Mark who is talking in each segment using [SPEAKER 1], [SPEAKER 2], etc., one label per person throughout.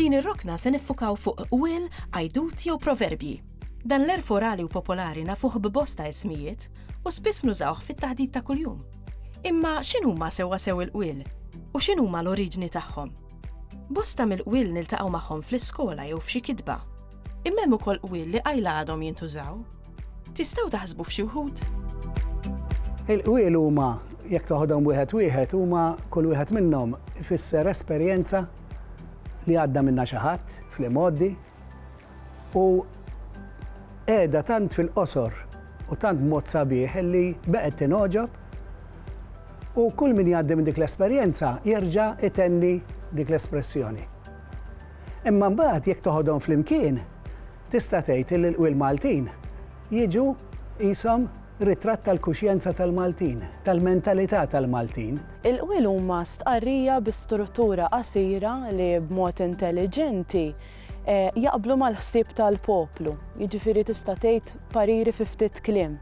[SPEAKER 1] F'din ir-rokna se niffukaw fuq qwiel, għajdut jew proverbji. Dan l-għerf orali u popolari nafuh b'bosta ismijiet u spiss nużawh fit-taħdit ta' kuljum. Imma x'inhuma sewwasew il-qwiel u x'inhuma l-oriġini tagħhom? Bosta mill-qwiel niltaqgħu magħhom fl-iskola jew f'xi kitba. Imma hemm ukoll qwiel li qajla għadhom jintużaw. Tistgħu taħsbu f'xi wħud?
[SPEAKER 2] Il-qwiel huma, jekk toħodhom wieħed wieħed, huma kull wieħed minnhom ifisser esperjenza li għadda minnha xi ħadd fl-imgħoddi, u qiegħda tant fil-qosor u tant b'mod sabiħ illi beqgħet tingħoġob u kull min jgħaddi minn dik l-esperjenza jerġa' jtenni dik l-espressjoni. Imma mbagħad jekk toħodhom flimkien tista' tgħid illi l-qwiel Maltin jiġu qishom ritratt tal-kuxjenza tal-Maltin, tal-mentalità tal-Maltin. Il-qwiel huma
[SPEAKER 3] stqarrija bi struttura qasira li b'mod intelliġenti jaqblu mal-ħsieb tal-poplu, jiġifieri tista' tgħid pariri fi ftit kliem.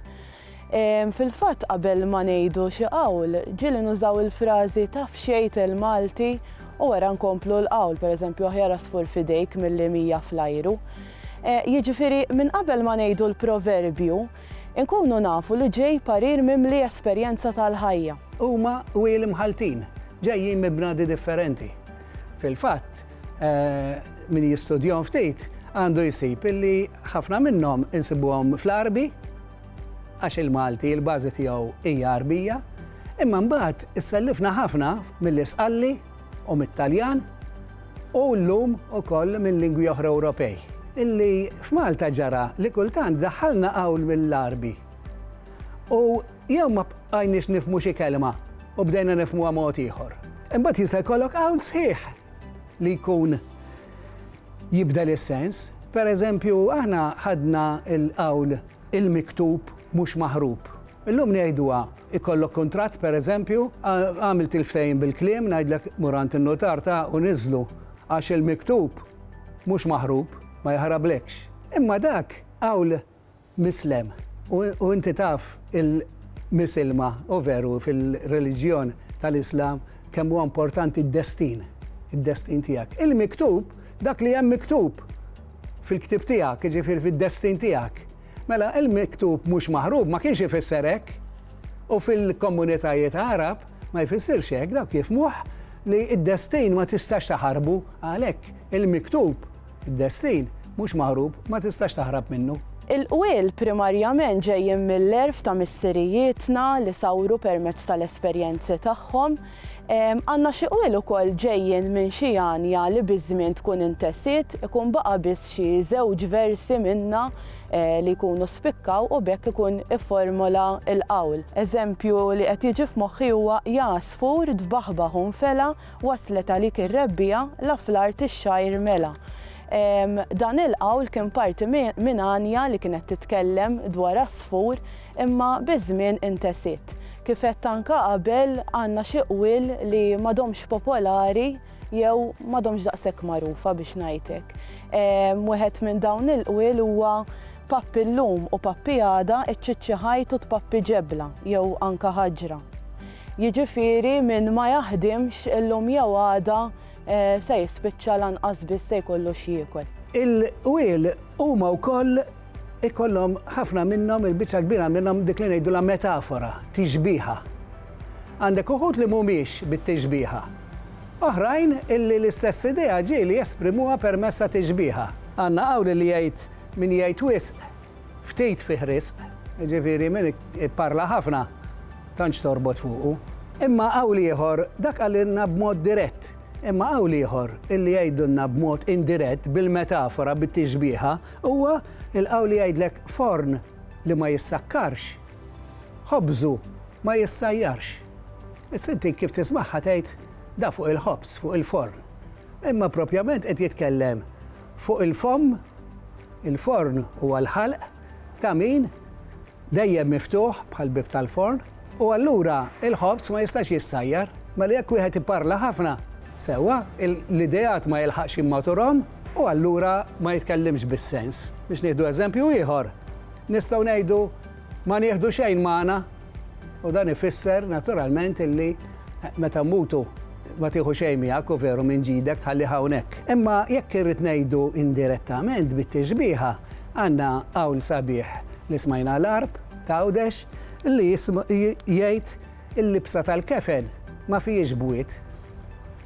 [SPEAKER 3] Fil-fatt qabel ma ngħidu xi qawl, ġieli nużaw il-frażi taf xejn tgħid Malti u wara nkomplu l-qawl, pereżempju aħjar għasfur f'idejk milli mija fl-ajru. Jiġifieri minn qabel ma ngħidu l-proverbju, inkunu nafu li ġej parir mimli esperjenza tal-ħajja. Huma wieli
[SPEAKER 2] mħalltin, ġejjin minn bnadi differenti. Fil-fatt, Min jistudjahom ftit għandu jsib illi ħafna minnhom insibuhom fl-Għarbi għax il-Malti l-bażi tiegħu hija Għarbija, imma mbagħad issellifna ħafna mill-Isqalli u mit-Taljan u llum ukoll minn lingwi oħra Ewropej. Illi f'Malta ġara li kultant daħħalna qawl mill-Għarbi. U Jew ma bqajniex nifhmu xi kelma u bdejna nifhmuha mod ieħor. Imbagħad jista' jkollok hawn sħiħ li jkun jibdel is-sens. Per eżempju, aħna ħadna l-qawl il-miktub mhux maħrub. Illum ngħiduha, ikollok kuntratt per eżempju, għamilt il-ftehim bil-kliem, ngħidlek mur għand in-nutar ta' u niżżlu għax il-miktub mhux maħrub, ma jaħrablekx. Imma dak qawl Mislem. U inti taf il-misilma u veru fil-reliġjon tal-Islam kemm huwa importanti d-destin, id-destin tiegħek. Il-miktub, dak li hemm miktub fil-ktieb tiegħek, jiġifieri fid-destin tiegħek. Mela il-miktub mhux maħrub ma kienx ifisser hekk. U fil-komunitajiet Għarab ma jfissirx hekk, dawk jifhmuh li d-destin ma tistax taħarbu, għalhekk il-miktub Id-destin mhux maħrub, ma tistax taħrab minnu. Il-qwiel
[SPEAKER 3] primarjament ġejjin mill-għerf ta' missirijietna li sawru permezz tal-esperjenzi tagħhom. Għandna xi qwiel ukoll ġejjin minn xi għanja li biż-żmien tkun intesiet, ikun baqa' biss xi żewġ versi minnha li jkunu spikkaw u b'hekk ikun ifformola l-qawl. Eżempju li qed jiġi f'moħħi huwa Jagħżfur tbaħbaħ u nfela' Waslet għalik ir-rebbiegħa, la fl-art ix-xgħir mela. Dan il-qawl kien parti minn għanja li kienet titkellem dwar għasfur imma biż-żmien intesiet. Kif għedt anke qabel, għandna xi qwiel li m'għadhomx popolari jew m'għadhomx daqshekk magħrufa biex ngħid hekk. Wieħed minn dawn il-qwiel huwa Pappi llum u pappi għada, iċċiċċi ħajt u tpappi ġebla jew anke ħaġra. Jiġifieri min ma jaħdimx illum jew għada se jispiċċa lanqas biss se jkollu x'jiekol. Il-qwiel
[SPEAKER 2] huma wkoll ikollhom ħafna minnhom, il-biċċa l-kbira minnhom dik li ngħidulha metafora, tixbiha. Għandek uħud li mhumiex bit-tixbiha. Oħrajn illi l-istess idea ġieli jesprimuha permezz ta' tixbiha. Għandna qawl li jgħid, min jgħid wisq, Ftit fih riżq, jiġifieri min ipparla ħafna tantx torbot fuqu. Imma qawl ieħor, dak qalilna b'mod dirett, imma qawl ieħor illi jgħidulna b'mod indirett bil-metafora, bit-tixbieha, huwa l-qawl li jgħidlek forn li ma jissakkarx, ħobżu ma jissajjarx. Issa inti kif tismagħha tgħid, da fuq il-ħobż, fuq il-forn. Imma propjament qed jitkellem Fuq il-fomm, il-forn huwa l-ħalq ta' min dejjem miftuħ bħal bieb tal-forn u allura l-ħobż ma jistax jissajjar. Mela jekk wieħed iparla ħafna, sewwa, l-ideat ma jilħaqx jimmaturhom u allura ma jitkellimx bis-sens. Biex nieħdu eżempju ieħor, nistgħu ngħidu ma nieħdu xejn magħna U dan ifisser naturalment illi meta mmutu ma tieħu xejn miegħek u veru minn ġidek tħallih hawnhekk. Imma jekk irrid ngħidu indirettament bit-tixbieha, għandna qawl sabiħ li smajna l-Għarb ta' Għawdex li jgħid il-libsa tal-kefen ma fihiex bwiet.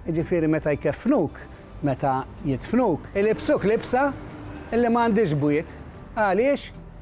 [SPEAKER 2] Jiġifieri meta jkeffnuk, meta jidfnuk, ilibsuk libsa li ma għandhiex bwiet. Għaliex?